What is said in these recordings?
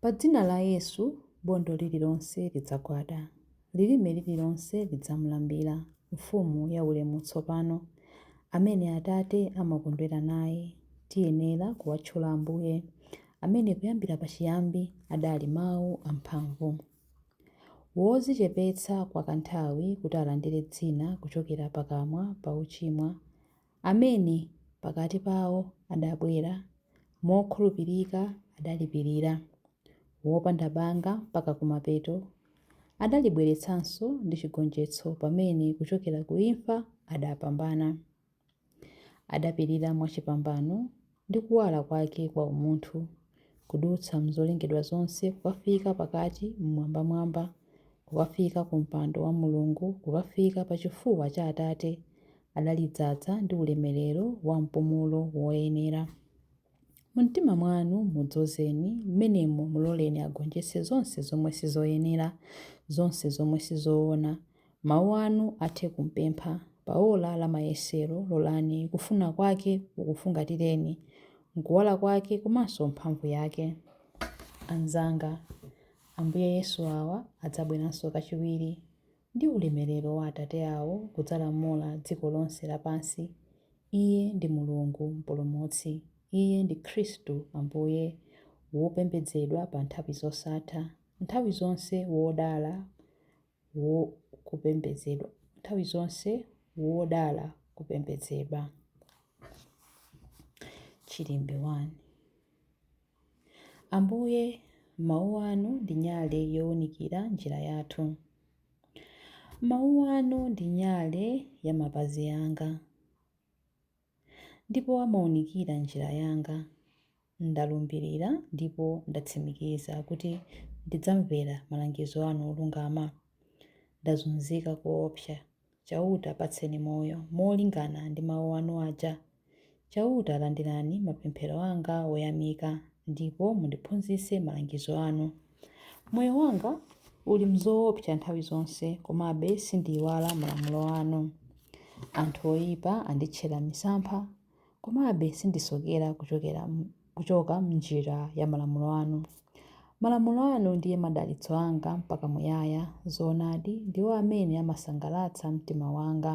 Pa dzina la Yesu, bondo lililonse lidzagwada, lilime lililonse lidzamulambira, Mfumu yaulemu tsopano, amene Atate amakondwera naye, tiyenera kuwatchula Ambuye, amene kuyambira pachiyambi adali Mawu amphamvu. Wodzichepetsa kwakanthawi kuti alandire dzina kuchokera pakamwa pa ochimwa, amene pakati pawo adabwera mokhulupirika adalipirira, wopanda banga mpaka kumapeto, adalibweretsanso ndi chigonjetso pamene kuchokera ku imfa adapambana. Adapirira mwachipambano ndi kuwala kwake kwa umunthu, kudutsa m'zolengedwa zonse kukafika pakati m'mwambamwamba, kukafika ku mpando wa Mulungu, kukafika pa chifuwa cha Atate, adalidzaza ndi ulemerero wa mpumulo woyenera. Mu mtima mwanu mudzozeni, m'menemo muloleni agonjetse zonse zomwe sizoyenera, zonse zomwe sizoona, Mawu anu athe kumpempha, pa ola la mayesero, lolani kufuna kwake kukufungatireni, n'kuwala kwake komanso mphamvu yake. Anzanga, Ambuye Yesu awa adzabweranso kachiwiri, ndi ulemerero wa Atate awo kudzalamula dziko lonse lapansi. Iye ndi Mulungu Mpulumutsi. Iye ndi Khristu Ambuye, wopembedzedwa pa nthawi zosatha, nthawi zonse wodala, wo kupembedzedwa nthawi zonse wodala kupembedzedwa chilimbe 1 ambuye mawu anu ndi nyale yowunikira njira yathu mawu anu ndi nyale ya mapazi anga Ndipo amaunikira njira yanga. Ndalumbirira ndipo ndatsimikiza kuti ndidzamvera malangizo anu olungama. Ndazunzika koopsa. Chauta patseni moyo molingana ndi mawu anu aja. Chauta landirani mapemphero anga oyamika, ndipo mundiphunzitse malangizo anu. Moyo wanga uli m'zoopsa nthawi zonse, komabe sindiiwala malamulo anu. Anthu oipa anditchera misampha, komabe sindisokera kuchoka m'njira ya malamulo anu. Malamulo anu ndiye madalitso anga mpaka muyaya, zoonadi, ndiwo amene amasangalatsa mtima wanga.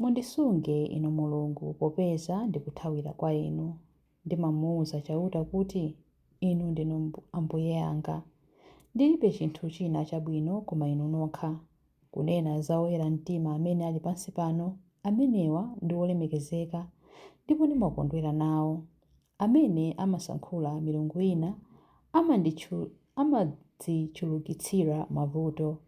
Mundisunge, Inu Mulungu, popeza ndikuthawira kwa Inu. Ndimamuuza Chauta kuti, Inu ndinu Ambuye anga. Ndilibe chinthu china chabwino koma Inu nokha. Kunena za oyera mtima amene ali pansi pano, amenewa ndi olemekezeka, ndipo ndimakondwera nawo. amene amasankhula milungu ina amadzichulukitsira mavuto.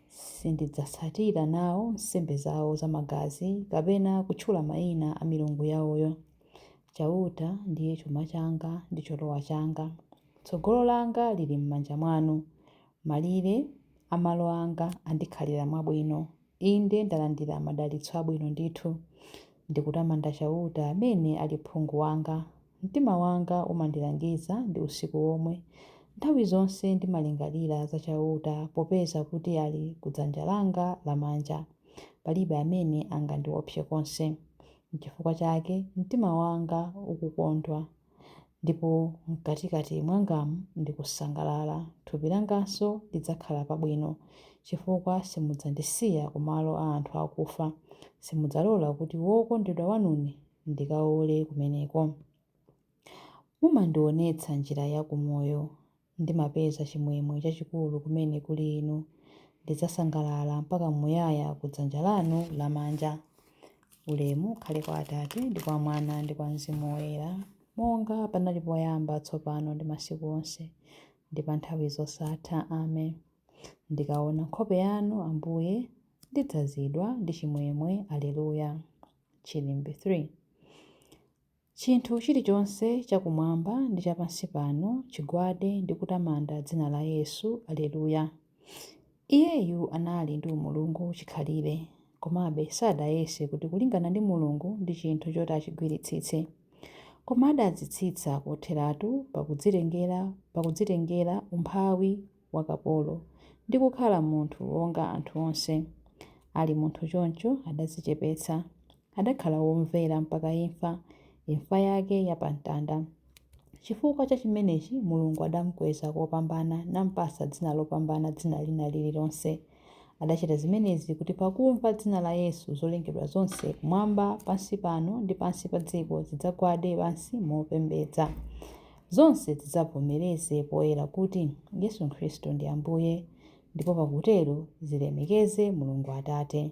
Sindidzatsatira nawo nsembe zawo zamagazi kapena kutchula mayina a milungu yawoyo. Chauta ndiye chuma changa ndi cholowa changa. Tsogolo langa lili m'manja mwanu. Malire a malo anga andikhalira mwabwino. Inde, ndalandira madalitso abwino ndithu. Ndikutamanda Chauta amene ali phungu wanga. Mtima wanga umandilangiza ndi usiku womwe. Nthawi zonse ndimalingalira za Chauta, popeza kuti ali ku dzanja langa lamanja. Palibe amene angandiopse konse. Nchifukwa chake mtima wanga ukukondwa. Ndipo mkatikati mwangamu ndikusangalala, thupi langanso lidzakhala pabwino, chifukwa simudzandisiya kumalo a anthu akufa, simudzalola kuti wokondedwa wanune ndikaole kumeneko. Mumandionetsa njira ya kumoyo, Ndimapeza chimwemwe chachikulu kumene kuli Inu, ndidzasangalala mpaka muyaya ku dzanja lanu lamanja. Ulemu ukhale kwa Atate, ndi kwa Mwana, ndi kwa Mzimu Woyera, monga panali poyamba, tsopano, ndi masiku onse, ndi pa nthawi zosatha. Amen. Ndikaona nkhope yanu, Ambuye, ndidzazidwa ndi chimwemwe. Aleluya. Chilimbi 3. Chinthu chilichonse cha kumwamba ndi cha pansi pano chigwade ndi kutamanda dzina la Yesu. Aleluya! Iyeyu anali ndi umulungu chikhalire, komabe sadayese kuti kulingana ndi Mulungu ndi chinthu choti achigwiritsitse. Koma adadzitsitsa kotheratu pakudzitengera pakudzitengera umphawi wa kapolo, ndi kukhala munthu wonga anthu onse. Ali munthu choncho, adadzichepetsa. Adakhala womvera mpaka imfa, imfa yake ya pa mtanda. Chifukwa cha chimenechi Mulungu adamkweza kopambana, nampatsa dzina lopambana dzina lina lililonse. Adachita zimenezi kuti pakumva dzina la Yesu zolengedwa zonse kumwamba, pansi pano, ndi pansi pa dziko zidzagwade pansi mopembedza. Zonse zidzavomereze poyera kuti Yesu Khristu ndi Ambuye, ndipo pakutero zilemekeze Mulungu Atate.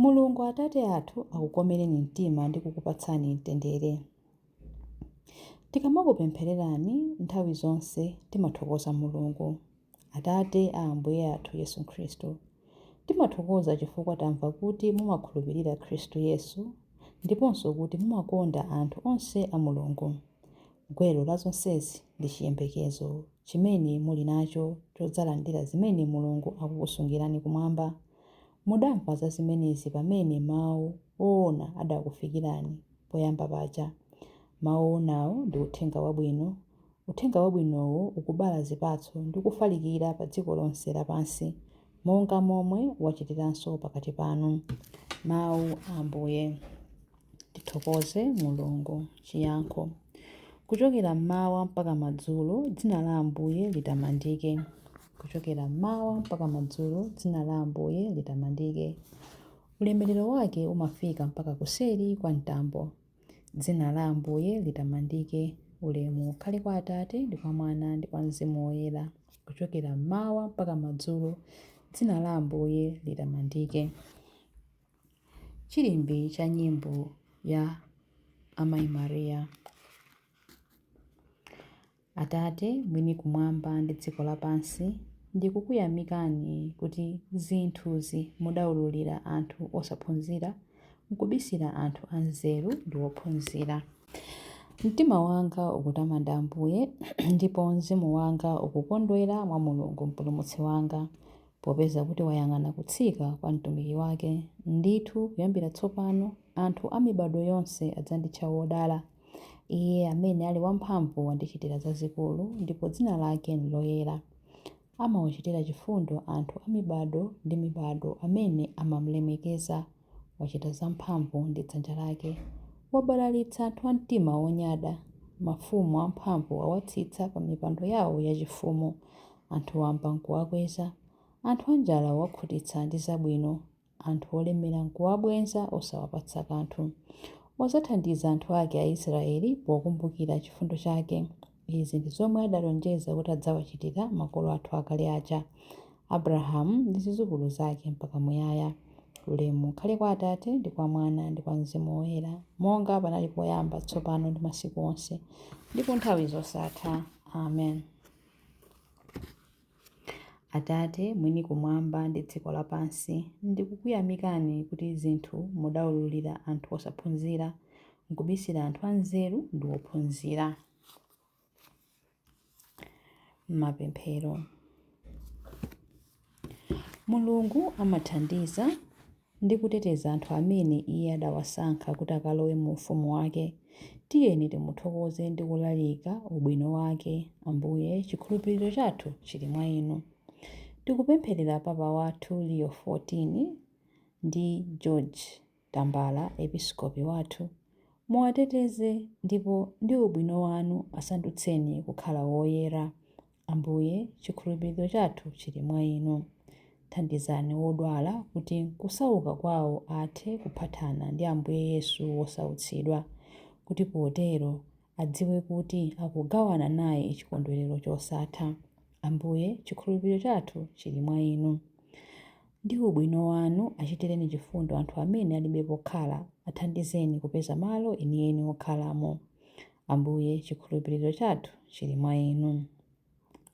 Mulungu Atate athu akukomereni mtima ndi kukupatsani mtendere. Tikamakupemphererani nthawi zonse timathokoza Mulungu, Atate a Ambuye athu Yesu Khristu. Timathokoza chifukwa tamva kuti mumakhulupirira Khristu Yesu ndiponso kuti mumakonda anthu onse a Mulungu. Gwero la zonsezi ndi chiyembekezo chimene muli nacho chodzalandira zimene Mulungu akukusungirani kumwamba. Mudamva za zimenezi pamene mau oona adakufikirani poyamba paja. Mau oonawo ndi Uthenga Wabwino. Uthenga Wabwinowo ukubala zipatso ndi kufalikira pa dziko lonse lapansi, monga momwe wachitiranso pakati panu. Mau a Ambuye. Tithokoze Mulungu. Chiyankho Kuchokera m'mawa mpaka madzulo, dzina la Ambuye litamandike. Kuchokera m'mawa mpaka madzulo, dzina la Ambuye litamandike. Ulemerero wake umafika mpaka kuseri kwa mtambo. Dzina la Ambuye litamandike. Ulemu ukhale kwa Atate, ndi kwa Mwana, ndi kwa Mzimu Woyera. Kuchokera m'mawa mpaka madzulo, dzina la Ambuye litamandike. Chilimbi cha nyimbo ya Amayi Maria. Atate mwini kumwamba ndi dziko lapansi, ndikukuyamikani kuti zinthuzi mudaululira anthu osaphunzira nkubisira anthu anzeru ndi ophunzira. Mtima wanga ukutamanda Ambuye, ndipo mzimu wanga ukukondwera mwa Mulungu Mpulumutsi wanga, Popeza kuti wayang'ana kutsika kwa mtumiki wake, ndithu kuyambira tsopano anthu a mibadwo yonse adzanditcha wodala. Iye amene ali wamphamvu wandichitira zazikulu, ndipo dzina lake n'loyera. Amawachitira chifundo anthu a mibadwo ndi mibadwo amene amam'lemekeza. Wachita zamphamvu ndi dzanja lake. Wabalalitsa anthu a mtima wonyada. Mafumu amphamvu wawatsitsa pamipando yawo yachifumu. Anthu wamba n'kuwakweza, anthu anjala wawakhutitsa ndi zabwino, anthu olemera n'kuwabwenza osawapatsa kanthu. Wadzathandiza anthu ake Aisiraeli pokumbukira chifundo chake. Izi ndi zomwe adalonjeza kuti adzawachitira makolo athu akale aja, Abulahamu ndi zidzukulu zake mpaka muyaya. Ulemu ukhale kwa Atate, ndi kwa Mwana, ndi kwa Mzimu Woyera, monga panali poyamba, tsopano ndi masiku onse, ndi ku nthawi zosatha. Amen. Atate, mwini kumwamba ndi dziko lapansi, ndikukuyamikani kuti zinthu mudaululira anthu osaphunzira, nkubisira anthu anzeru ndi ophunzira. Mapemphero. Mulungu amathandiza ndi kuteteza anthu amene iye adawasankha kuti akalowe mu ufumu wake. Tiyeni timuthokoze ndi kulalika ubwino wake. Ambuye, chikhulupiriro chathu chili mwa Inu. Tikupempherera Papa wathu Leo 14 ndi George Tambala, Episkopi wathu. Muwateteze ndipo ndi ubwino wanu asandutseni kukhala woyera. Ambuye, chikhulupiriro chathu chiri mwa Inu. Thandizani wodwala kuti kusauka kwao athe kuphatana ndi Ambuye Yesu wosautsidwa, kuti potero adziwe kuti akugawana naye chikondwerero chosatha. Ambuye, chikhulupiriro chathu chiri mwa Inu. Ndi ubwino wanu, achitireni chifundo anthu amene alibe pokhala, athandizeni kupeza malo enieni okhalamo. Ambuye, chikhulupiriro chathu chili mwa Inu.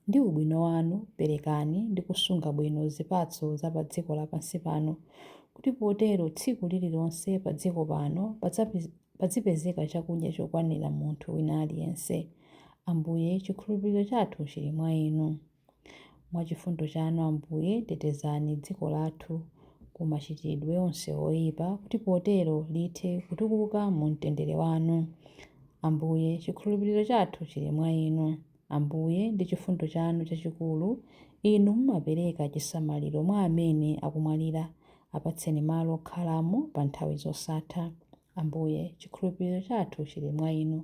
Ndi ubwino wanu, perekani ndi kusunga bwino zipatso za padziko lapansi pano, kuti potero tsiku lililonse padziko pano padzipezeka chakudya chokwanira munthu wina aliyense. Ambuye, chikhulupiriro chathu chili mwa Inu. Mwa chifundo chanu, Ambuye, tetezani dziko lathu ku machitidwe onse oipa, kuti potero lithe kutukuka mu mtendere wanu. Ambuye, chikhulupiriro chathu chili mwa inu. Ambuye, ndi chifundo chanu chachikulu, inu mumapereka chisamaliro mwa amene akumwalira, apatseni malo okhalamo pa nthawi zosatha. Ambuye, chikhulupiriro chathu chiri mwa Inu.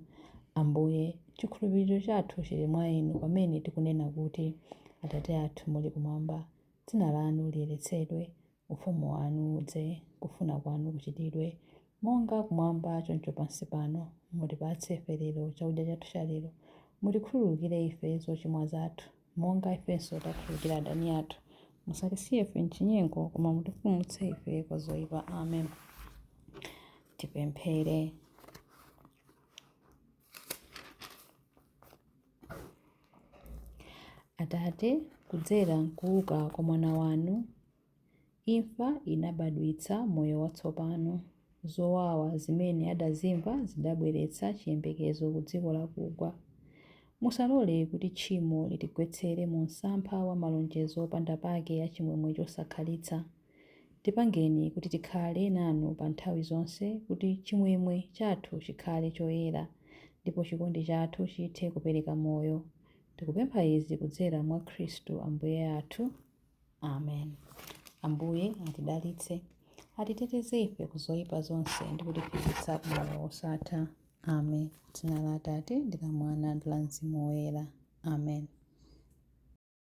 Ambuye, chikhulupiriro chathu chiri mwa Inu pamene tikunena kuti, Atate athu muli kumwamba, dzina lanu liyeretsedwe, ufumu wanu udze, kufuna kwanu kuchitidwe, monga kumwamba choncho pansi pano. Mutipatse ife lero chakudya chathu cha lero. Mutikhululukire ife zochimwa zathu. monga ifenso takhululukira adani athu. Musatisiye ife m'chinyengo, koma mutipulumutse ife kwa zoyipa. Amen. Tipemphere. Atate, kudzera m'kuuka kwa Mwana wanu, Imfa inabadwitsa moyo watsopano. Zowawa zimene adazimva zidabweretsa chiyembekezo ku dziko lakugwa. Musalole kuti tchimo litigwetsere mu msampha wa malonjezo opanda pake a chimwemwe chosakhalitsa. Tipangeni kuti tikhale nanu pa nthawi zonse kuti chimwemwe chathu chikhale choyera ndipo chikondi chathu chithe kupereka moyo. Tikupempha izi kudzera mwa Khristu Ambuye athu. amen ambuye atidalitse atiteteze ife ku zoyipa zonse ndi kutifikitsa ku moyo wosatha amen dzina la atate ndi la mwana ndi la mzimu woyera amen